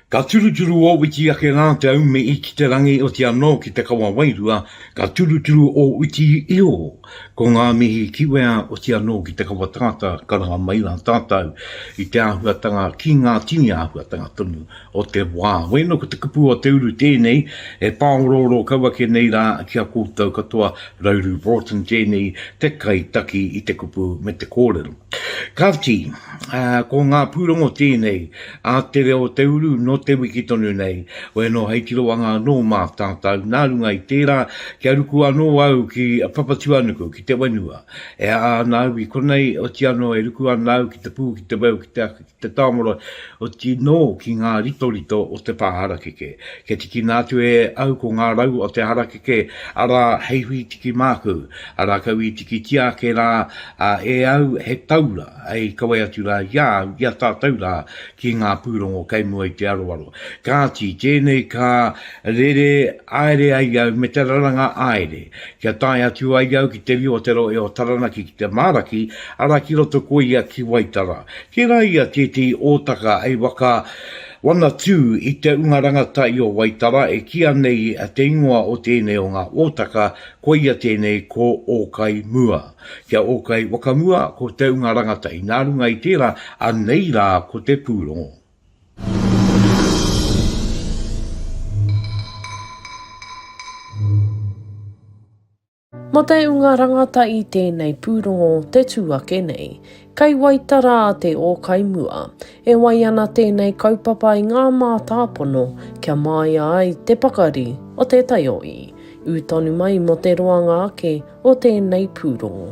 Ka turuturu ō witi ake rā te aume i ki te rangi oti anō ki te kawa wairua, ka turuturu ō witi i ō. Ko ngā mihi ki wea oti anō ki te kawa tangata, ka raha mai rā tātou i te āhuatanga ki ngā tini āhuatanga tonu o te wā. Wēnō ko te kupu o te uru tēnei e pāorooro kau ake nei rā ki a koutou katoa Rauru Broughton tēnei te kai taki i te kupu me te kōrero. Kāti, ā, ko ngā pūrongo tēnei ā te reo o te uru nō te wiki tonu nei, wēnō hei tiroanga anō mā tātou nā runga i tērā kia ruku anō au ki Papatuanuku, ki te whenua. E āa ana au i konei, otianō e ruku ana au ki te pū, ki te weu, ki te. te tāmoro, oti nō ki ngā ritorito o te pā harakeke. Kia tikina atu e au ko ngā rau o te harakeke, arā, hei hui tiki māku, a rākau i tikitia ake rā e au he taura hei kawe atu rā i a au, i a tātou rā, ki ngā pūrongo kei mua i te aroaro. Kāti, tēnei ka rere aere ai au me te raranga aere. Kia tae atu ai au ki te rio o te rohe o Taranaki ki te Maraki, ara ki roto ko ia ki Waitara. Tera ia tetehi otaka hei waka wana tu i te unga rangatai o Waitara e kia nei te ingoa o tenei o nga otaka ko ia tenei ko Okai Mua. Kia Okai Wakamua ko te unga rangatai na runga i tera anei ra ko te purongo. Mo te unga rangatahi tēnei pūrongo te tū ake nei. Kei Waitara te ōkai mua. E wai ana tēnei kaupapa i ngā mātāpono kia māia ai te pakari o te taioī. Ū tonu mai mo te roanga ake o tēnei pūrongo.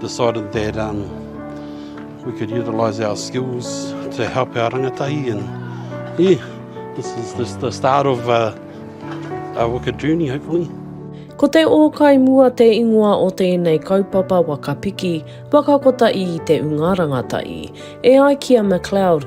decided that um, we could utilise our skills to help our rangatahi and yeah, this is this, the start of uh, our waka journey hopefully. Ko te ōkai mua te ingoa o tēnei kaupapa waka piki, waka kotahi i te unga rangatahi. E ai ki a McLeod,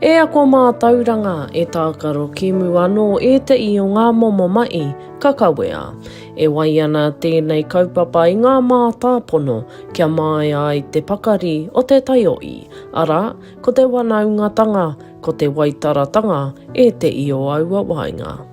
E ako mātauranga, e tākaro kēmu anō ēteʻi o ngā momo maʻi ka kawea. E wai ana tēnei kaupapa i ngā mātāpono kia māia ai te pakari o te taioʻi, arā, ko te wanaungatanga, ko te waitaratanga ēteʻi o aua waenga.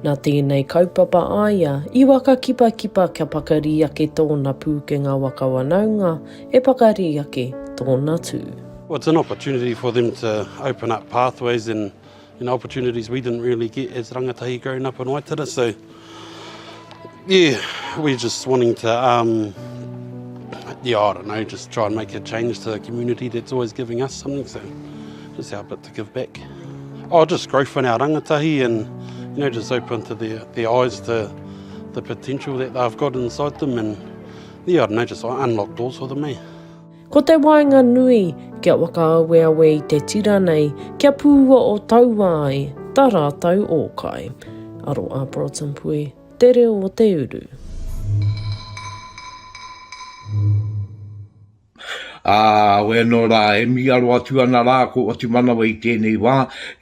Nā tēnei kaupapa a ia i whakakipakipa kia pakari ake tōna pūkenga waka wanaunga e pakari ake tōna tū. Well it's an opportunity for them to open up pathways and you know opportunities we didn't really get as rangatahi growing up in Waitara so yeah we're just wanting to um yeah I don't know just try and make a change to the community that's always giving us something so just help it. give back. Oh, just growth in our rangatahi and, you know, just open to their, their eyes to the potential that they've got inside them and, yeah, I don't know, just unlock doors for them, eh? Ko te waenga nui, kia whakaaweawe i te tira nei, kia pūua o taua ai, tā rātou ōkai. Aro a Broughton Pui, te reo o te uru. Ā, wai anō rā, e mīaro atu ana rā ko Otumanawa i tēnei wā,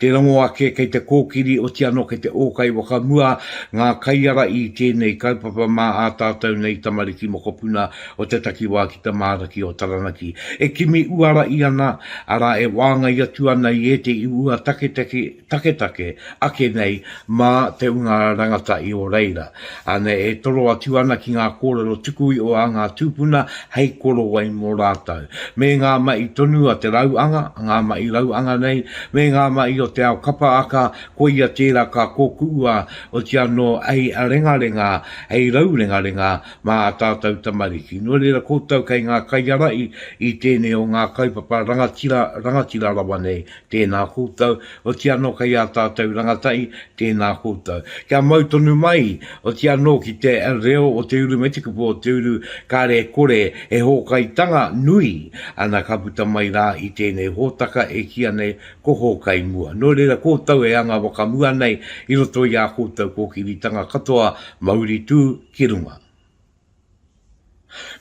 te rongo ake kei te kōkiri oti anō kei te ōkai wakamua ngā kaiara i tēnei kaupapa mā ā tātou nei tamariki mokopuna o te takiwā ki te māraki o Taranaki e kimi uara i ana, arā, e wāngai atu ana i ētehi ua taketake. Taketake, ake nei, mā te ūnga rangatahi o reira. Anei e toro atu ana ki ngā kōrero tukuiho a ngā tūpuna hei korowai mō rātou. Me ngā mahi tonu a te rauanga, ngā mahi rauanga nei, me ngā mahi o te ao kapa aka, koia tērā ka kōkuua, oti anō hei rengarenga, hei raurengarenga mā ā tātou tamariki. Nō reira koutou kei ngā kaiarahi i tēnei o ngā kaupapa rangatira, rangatira rawa nei Tēnā koutou, oti anō kei ā tātou rangatahi, tēnā koutou. Kia mau tonu mai, oti anō ki te reo o te uru me te kupu o te uru, kāre e kore he hōkaitanga nui ana ka puta mai rā i tēnei hōtaka e kīa nei ko Hōkai Mua. Nō reira koutou e anga wakamua nei i roto i ā koutou kōkiritanga katoa, mauri tū ki runga.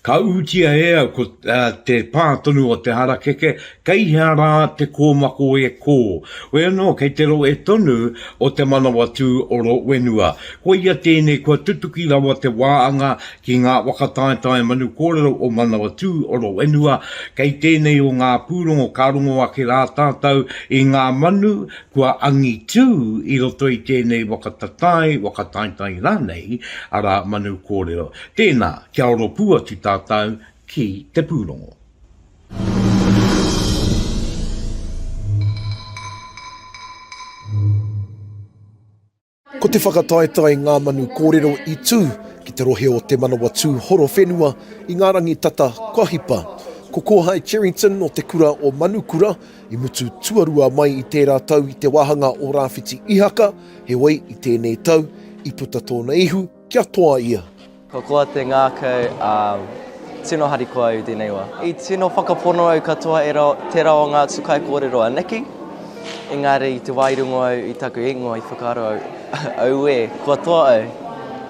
Ka ūtia e au ko te pā tonu o te harakeke, kei hea rā te kōmako e kō. Hoi anō kei te rohe tonu o Te Manawatū o Rowenua. Koia tēnei kua tutuki rawa te wāanga ki ngā whakataetae manu kōrero o Manawatū o Rowenua, kei tēnei o ngā pūrongo ka rongo ake rā tātou i ngā manu Kua angitū i roto i tēnei waka tatae, waka taetae rānei, arā, manu kōrero. Tēnā, kia oro pū atu tātou ki te pūrongo. Ko te whakataetae Ngā Manu Kōrero i tū ki te rohe o Te Manawatū Horowhenua i ngā rangi tata kua hipa. Ko Kōhae Cherrington o te kura o Manukura i mutu tuarua mai i tērā tau i te wāhanga o Rāwhiti Ihaka, heoi i tēnei tau i puta tōna ihu, Kia toa ia. Ko koa te ngākau, ā, tino harikoa au i tēnei wā. I tino whakapono au katoa e tērā o ngā atu kaikōrero anake, engari i te wā i rongo au i taku ingoa i whakaaro au, auē, kua toa au,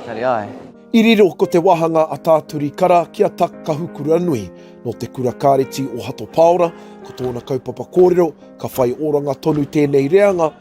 engari āe. I riro ko te wāhanga a Tā Turi Kara ki a Tak Kahukuranui, nō te kura kāreti o Hato Pāora, ko tōna kaupapa kōrero, ka whai oranga tonu tēnei reanga,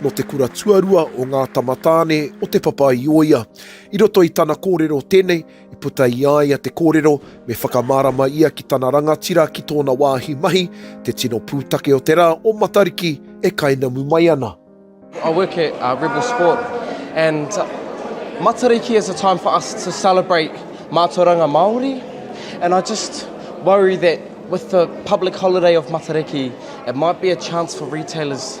nō te kura tuarua o ngā tamatāne o Te Papa-i-ōia. I roto i tana kōrero tēnei, i puta i a ia te kōrero me whakamārama ia ki tana rangatira ki tōna wāhi mahi, te tino pūtake o te rā o Matariki e kainamu mai ana. I work at uh, Rebel Sport and uh, Matariki is a time for us to celebrate mātauranga Māori and I just worry that with the public holiday of Matariki it might be a chance for retailers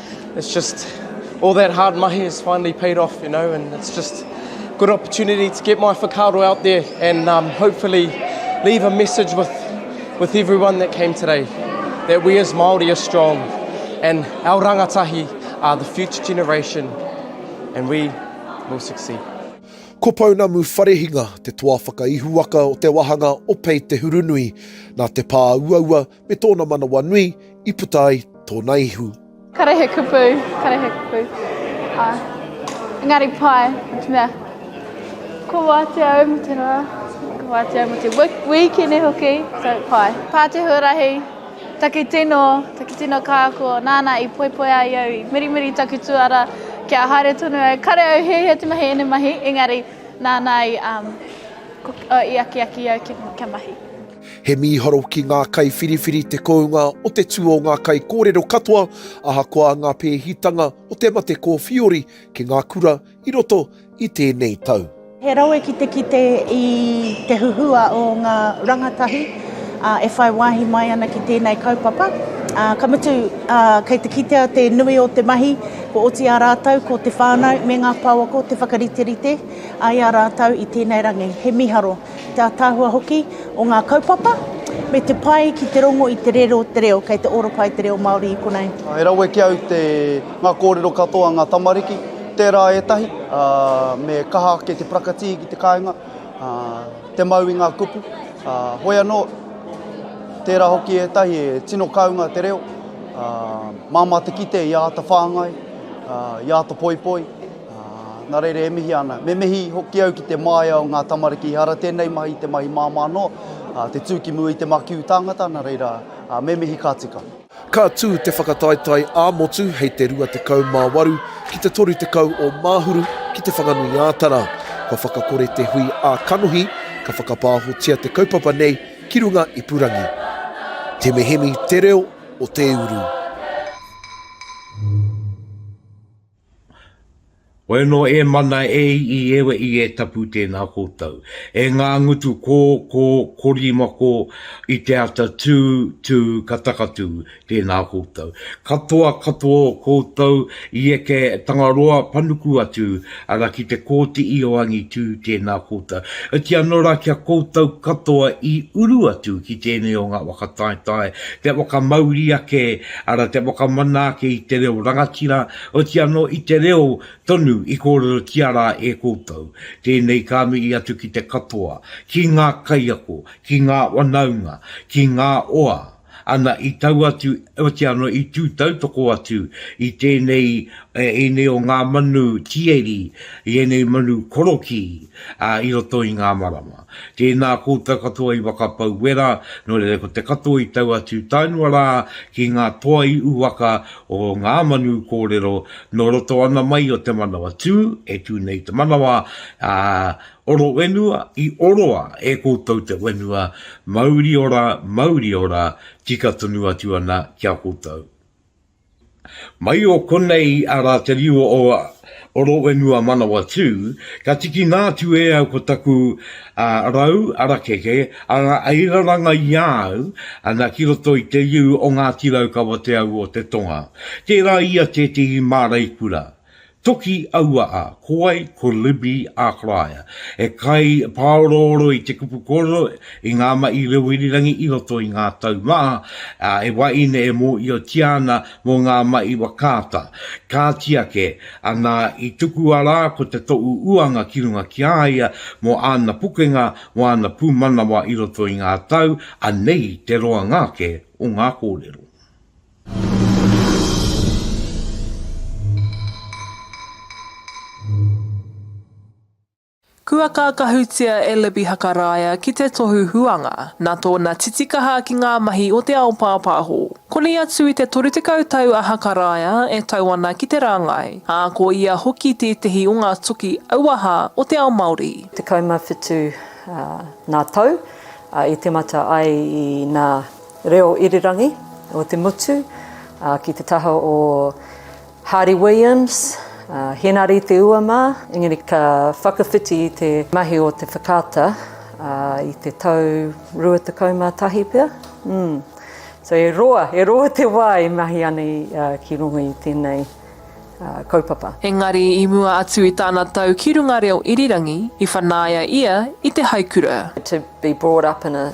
It's just all that hard mahi has finally paid off, you know, and it's just a good opportunity to get my whakaaro out there and um, hopefully leave a message with, with everyone that came today, that we as Māori are strong and our rangatahi are the future generation and we will succeed. Ko Pounamu Wharehinga te toa whakaihuwaka o te wahanga o Pei Te Hurunui. Nā te pā uaua, Me tōna manawa nui i puta ai tōna ihu. Kare he kupu, kare he kupu. Ā, engari pai, me te mea, kua wātea au mō te rā, kua wātea au mō te wīkene hoki, so pai. Pā te huarahi, taki tino, taki tino kāko, nāna i poipoia i au, i mirimiri taku tuara kia haere tonu au. Kare au hiahia te mahi ēnei mahi, engari nāna i, um, i akiaki i au kia mahi. He mīharo ki ngā kaiwhiriwhiri te kounga o te tū o ngā kaikōrero katoa, ahakoa ngā pēhitanga o te mate kōwhiori ki ngā kura i roto i tēnei tau. He rawe ki te kite i te huhua o ngā rangatahi e whai wāhi mai ana ki tēnei kaupapa. Ka mutu, kei te kitea te nui o te mahi, kua oti ā rātou ko te whānau me ngā pouako te whakariterite i a rātou i tēnei rangi. He mīharo. ki te ataahua hoki o ngā kaupapa, me te pai ki te rongo i te rero o te reo, kei te ora pai te reo Māori i konei. E rawe ki au te, ngā kōrero katoa ngā tamariki, tērā ētahi, ā, me kaha ake te prakatii ki te kāinga, ā, te mau i ngā kupu, ā, hoi anō, tērā hoki ētahi e tino kaunga te reo, ā, māmā te kite i āta whāngai, ā, i āta poipoi. Ā, nā reira e mihi ana. Me mihi hoki au ki te māia o ngā tamariki, ehara tēnei mahi i te mahi māmā noa, ā, te tū ki mua i te makiu tāngata, nā reira, ā, me mihi ka tika. Ka tū te whakataetae ā-motu hei te 28 ki te 30 o Māhuru ki Te Whanganui-ā-Tara. Kua whakakore te hui ā-kanohi, ka whakapāhotia te kaupapa nei ki runga ipurangi. Temehemi te reo o te uru. Wai anō e mana e i ewe i e tapu tēnā kōtau. E ngā ngutu kō, kō, korima kō, i te ata tū, tū, ka takatū tēnā kōtau. Katoa, katoa o kōtau i eke Tangaroa panuku atu ara ki te kōti i o angitū tēnā kōtau. Oti anō rā ki a kōtau katoa i uru atu ki tēnei o ngā waka taetae, te whakamauri ake, Arā te whakamanaake i te reo rangatira, oti anō i te reo tonu i kōrerotia rā e koutou. Tēnei ka mihi atu ki te katoa, ki ngā kaiako, ki ngā wanaunga, ki ngā oa, ana i tau atu, oti anō i tū tautoko atu i tēnei, ēnei o ngā manu tieri, i ēnei manu korokī, ā, i roto i ngā marama. Tēnā koutou katoa i whakapau wera, nō reira ko te katoa i tau atu taenua rā ki ngā toa i uwaka o ngā manu kōrero nō roto ana mai o te manawa tū, e tū nei te manawa, ā, oro whenua, i oroa e koutou te whenua, mauri ora, mauri ora, tika tonu atu ana ki a koutou. Mai o konei a Rātariua o Roowenua Manawatū, ka tikina atu e au ko taku rau arakeke a ngā airaranga i a au ana ki roto i te riu o Ngāti Raukawa Te Au o Te Tonga. Tērā ia tētehi māreikura. Toki aua a, ko wai, ko Libby Ākarāia, he kai pāorooro i te kupu kōrero i ngā mahi reo irirangi i roto i ngā tau maha, ā, he wahine e mōhiotia ana mō ngā mahi whakaata. Kāti ake, anā, i tukua rā ko te tohu uanga ki runga ki a ia mō āna pukenga, mō āna pūmanawa i roto i ngā tau, anei te roanga ake o ngā kōrero. Kua kākahutia e Libby Hakaraia ki te tohu huanga, nā tōna titikaha ki ngā mahi o te ao pāpāho. Koni atu i te 30 tau a Hakaraia e tau ana ki te rāngai, ā, ko ia hoki tētehi o ngā toki auaha o te ao Māori. 17 ngā tau i tīmata ai i nā Reo Irirangi o te motu ki te taha o Hardy Williams, Henare Te Ua mā, engari ka whakawhiti i te mahi o te whakaata i te tau 21 pea. Mm. So e roa, e roa te wā e mahi ana ki runga i tēnei kaupapa. Engari i mua atu i tāna tau ki runga reo irirangi, i whanaia ia i te haikura. To be brought up in a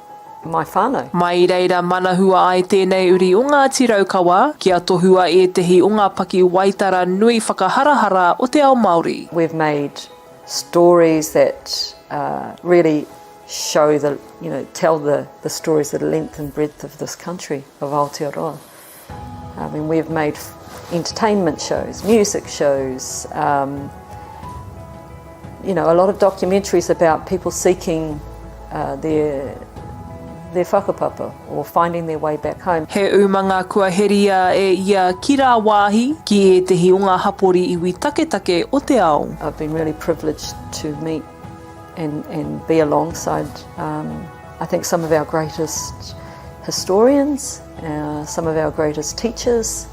my whānau. Mai i reira manahua ai tēnei uri o Ngāti Raukawa kia tohua ētehi o ngā pakiwaitara nui whakaharahara o te ao Māori. We've made stories that really show the, you know, tell the stories of the length and breadth of this country, of Aotearoa. I mean, we've made entertainment shows, music shows, um, you know, a lot of documentaries about people seeking uh, their their whakapapa or finding their way back home. He umanga kua heria e ia ki rāwāhi, ki ētehi o ngā hapori iwi taketake o te ao. I've been really privileged to meet and and be alongside um, I think some of our greatest historians, uh, some of our greatest teachers,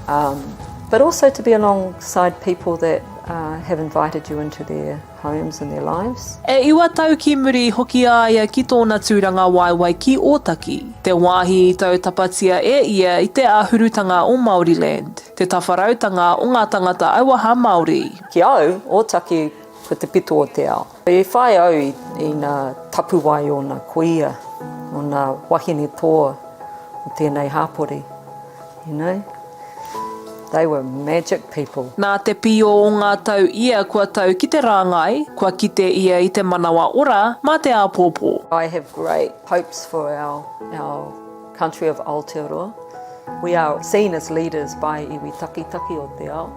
um, but also to be alongside people that uh, have invited you into their homes and their lives. E iwa tau ki muri hoki a ia ki tōna tūranga waewae ki Ōtaki, te wāhi i tau tapatia e ia i te āhurutanga o Māoriland, te tawharautanga o ngā tangata auaha Māori. Ki au, Ōtaki Ko te pito o te ao. E whai au i nā tapuwae o nā kuia, o nā wahine toa o tēnei hāpori. You know? They were magic people. Nā te pio o ngā tau ia kua tau ki te rāngai, kua kite ia i te manawa ora mā te āpōpō. I have great hopes for our our country of Aotearoa. We are seen as leaders by iwi takitaki o te ao.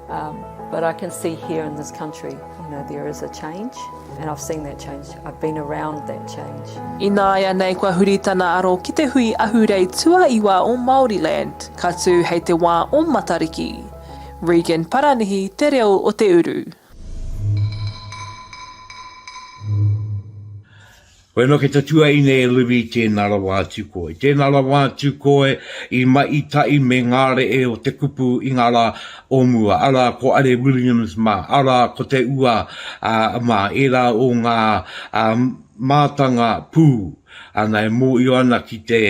But I can see here in this country, you know, there is a change and I've seen that change, I've been around that change. Ināianei kua huri tana aro ki te hui ahurei tuaiwa o Māoriland, ka tū hei te wā o Matariki. Regan Paranihi te reo o te uru. Koe anō kei te tuaine e Livi i tēnā rawa atu koe, i tēnā rawa atu koe i mahi tahi me ngā rehe o te kupu i ngā rā o mua, arā, ko Are Williams mā, arā, ko Te Ua mā, ērā o ngā mātanga pū ana e mōhio ana ki te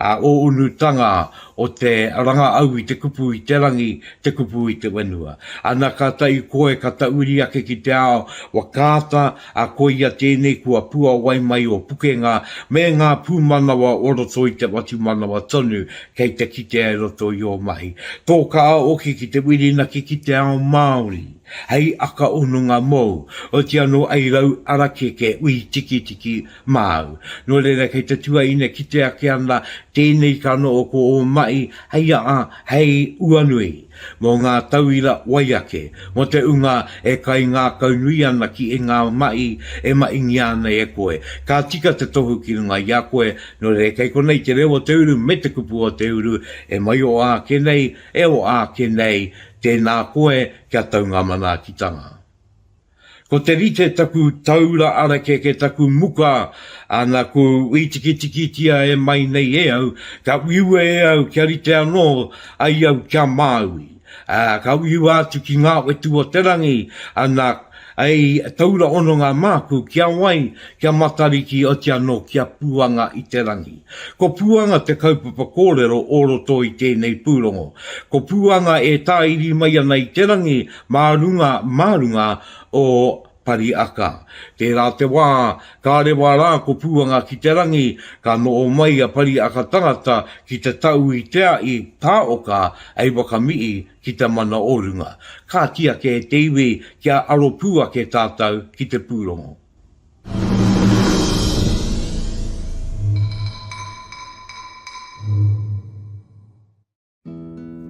ō-unutanga o te ranga au i te kupu i te rangi, te kupu i te whenua. Ana kātahi koe ka tauri ake ki te ao, whakaata, ā, koia tēnei kua puawai mai ō pukenga me ngā pūmanawa o roto i te whatumanawa tonu kei te kitea i roto i ō mahi. Tō kaaoke ki te whirinaki ki te ao Māori hei aka hononga mōu, oti anō hei rau arakeke ui tikitiki māu. Nō reira kei te tuaine kite ake ana tēnei kanoho ko ō mahi hei aa, hei uanui. Mō ngā tauira wai ake, mō te ūnga e kaingākaunui ana ki i ngā mahi e mahingia ana e koe, ka tika te tohu ki runga i a koe, nō reira kei konei te reo o te uru me te kupu o te uru, e mai o āke nei, e o āke nei, tēnā koe kia tau ngā manaakitanga. Ko te rite taku taura arakeke taku muka ana ku wītikitikitia e mai nei e au, ka uiua e au kia rite anō ai au kia Māui, ā, ka uiua atu ki ngā whetū o te rangi ana i taura hononga māku ki a wai, ki a Matariki oti anō ki a Puanga i te rangi. Ko Puanga te kaupapa kōrero o roto i tēnei pūrongo. Ko Puanga e tāiri mai ana i te rangi Mā runga, mā runga o Pariaka. Tērā te wā, ka rewa rā ko Pūanga ki te rangi, ka noho mai a Pariaka tangata ki te tau i te aʻi tā Oka hei wakamihi ki te mana o runga. Kāti ake e te iwi kia aro pū ake tātou ki te pūrongo.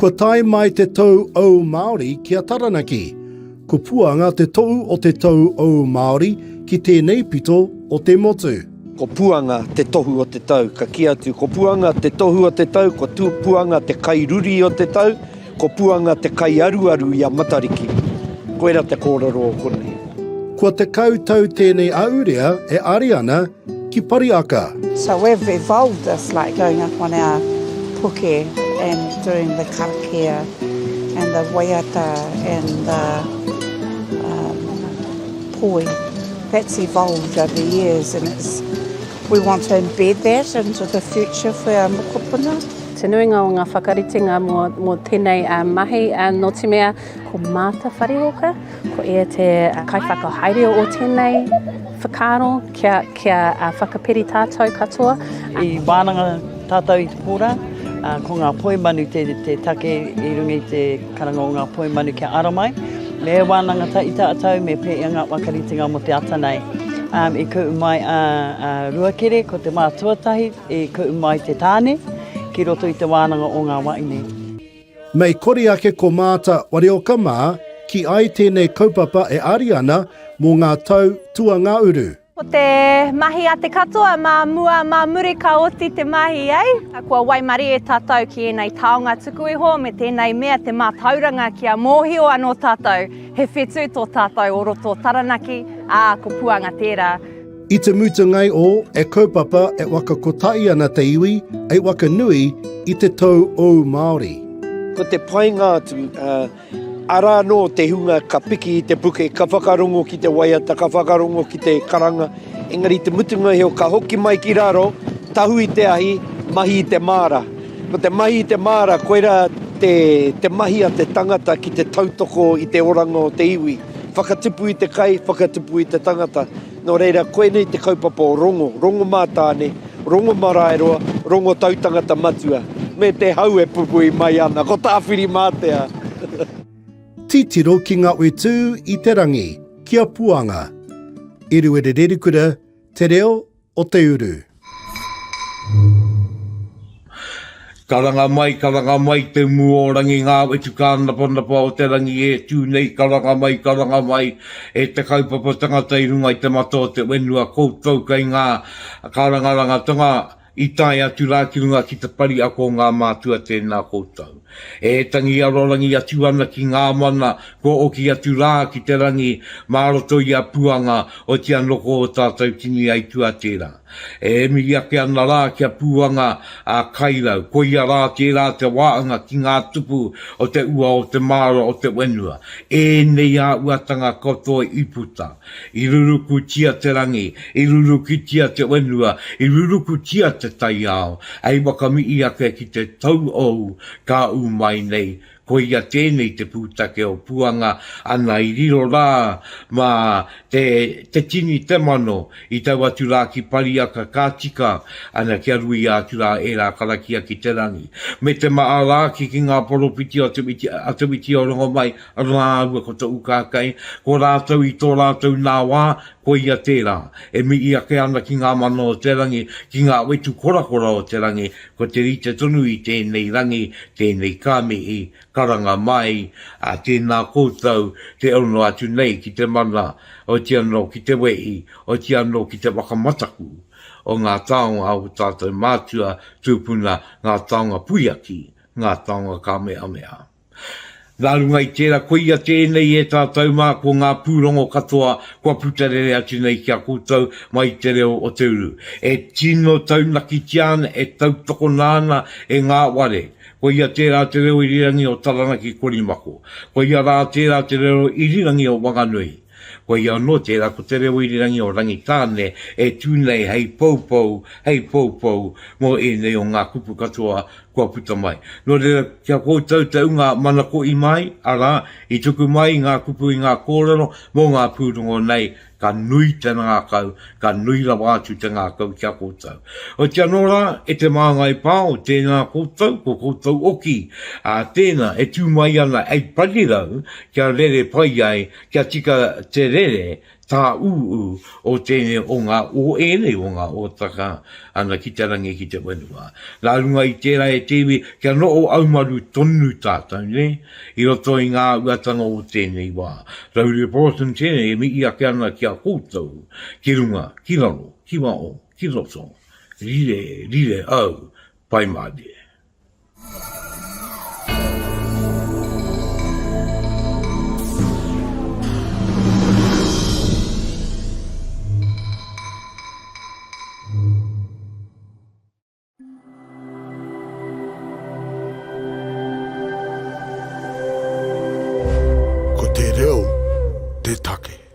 Kua tae mai te tou ou Māori ki a Taranaki. Ko Puanga te tohu o te tou ou Māori ki tēnei pito o te motu. Ko Puanga te tohu o te tau. Ka kī atu, Ko Puanga te tohu o te tau, ko Puanga te kai ruri o te tau, ko Puanga te kai aruaru i a Matariki. Koira te kōrero o konei. Kua tekau tau tēnei ahurea e Ariana ki Pariaka. So we've evolved this like going up on our puke and doing the karakia and the waiata and the um, poi. That's evolved over the years and it's we want to embed that into the future for our mokopuna. Te nuinga o ngā whakaritenga mō, mō tēnei uh, mahi uh, nō te mea Ko Martha Whariwalker, ko ia te kaiwhakahaere o tēnei whakaaro kia, kia uh, whakaperi tātou katoa. I wānanga tātou i te pōrā, uh, ko ngā poimanu te, te take i rungi te karanga o ngā poimanu kia ara mai. Me wānanga ta i tātou, me pē i ngā wakaritenga mo te ata nei. Um, I kuu mai a, a Ruakere, ko te mātuatahi, i kuu mai te tāne, ki roto i te wānanga o ngā waine. Mei kori ake ko Maata Warioka mā ki ai tēnei kaupapa e ari ana mō ngā tau tuangauru. Ko te mahi a te katoa mā mua, mā muri ka oti te mahi, eh? Kua waimarie tātou ki ēnei taonga tuku iho me tēnei mea te mātauranga kia mōhio anō tātou he whetū tō tātou o roto o Taranaki, ā, ko Puanga tērā. I te mutungai o E kaupapa e waka kotahi ana te iwi e waka nui i te tou ou Māori. Ko te painga atu, ara anō te hunga ka piki i te puke, ka whakarongo ki te waiata, ka whakarongo ki te karanga, engari te mutunga iho ka hoki mai ki raro, tahu i te ahi, mahi i te māra. Ko te mahi i te māra, koira te mahi a te tangata ki te tautoko i te oranga o te iwi. Whakatipu i te kai, whakatipu i te tangata. Nō reira, koinei te kaupapa o Rongo, Rongo mā Tāne, Rongo mā Raeroa, Rongo Tautangata Matua, me te hau e pupui mai ana, ko Tāwhirimātea! Titiro ki nga utu i te rangi, ki a Puanga. Eruere Rerikura, Te Reo, o te uru. Karanga mai, karanga mai, te mu o rangi ngā wetu kānapanapa o te rangi e tū nei, karanga mai, karanga mai, e te kaupapa tangata i runga i te mata o te whenua, koutou kei ngā karangarangatanga i tae atu rā ki runga ki te pari ako o ngā mātua, tēnā koutou. E tangi arorangi atu ana ki ngā mana kua oki atu rā ki te rangi mā roto i a Puanga o tia noko o tātou tini aitua tērā. E mihi ake ana rā ki a Puanga a Kairau, koia rā tērā te waanga ki ngā tupu o te ua o te māra o te wenua, ēnei āuatanga katoa i puta. I rurukutia te rangi, i rurukitia te whenua, i rurukutia te taiao, hei whakamihi ake ki te tauhou ka ū mai nei, koia tēnei te pūtake o Puanga ana i riro rā mā te te tini te mano i tau atu rā ki Pariaka ka tika ana kia ruia atu rā ērā karakia ki te rangi me te maha rāki ki ngā poropiti o te witi o Rongomai Rāua ko Te Ukākei, ko rātou i tō rātou nā wā, koia tērā, e mihi ake ana ki ngā mana o te rangi, ki ngā wetu korakora o te rangi, ko te rite tonu i tēnei rangi, tēnei ka mihi, karanga mai, ā, tēnā koutou, te ono atu nei ki te mana, oti anō ki te wehi, oti anō ki te whakamataku o ngā taonga o tātou mātua, tūpuna, ngā taonga puiaki, ngā taonga kāmehameha. Nā runga i tērā koia tēnei e tātou mā ko ngā pūrongo katoa kua puta rere atu nei ki a koutou mai i te reo o te uru e tino taunakitia ana, e tautokona ana e ngā ware. Koia tērā te reo irirangi o Taranaki Korimako. Koia rā tērā te reo irirangi o Wanganui. Koia anō tērā ko te reo irirangi o Rangitāne e tū nei hei poupou, hei poupou mō ēnei o ngā kupu katoa kua puta mai. Nō reira, ki a koutou te ūnga manako i mai, arā, i tuku mai i ngā kupu, i ngā kōrero mō ngā pūrongo nei, ka nui te ngākau, Ka nui rawa atu te ngākau ki a koutou. Oiti anō rā, e te māngai pao, tēnā koutou, ko koutou oki, ā, tēnā, e tū mai ana ei parirau kia rere pai ai, kia tika te rere tāūū o tēnei o ngā, o ēnei o ngā ōtaka ana ki te rangi, ki te whenua. Nā runga i tērā e te iwi, kia noho aumaru tonu tātou, nē? I roto i ngā uatanga o tēnei wā, Rauria Proton tēnei e mihi ake ana ki a koutou, ki runga, ki raro, ki waho, ki roto, rire, rire au, pai mate. Ko te reo te take.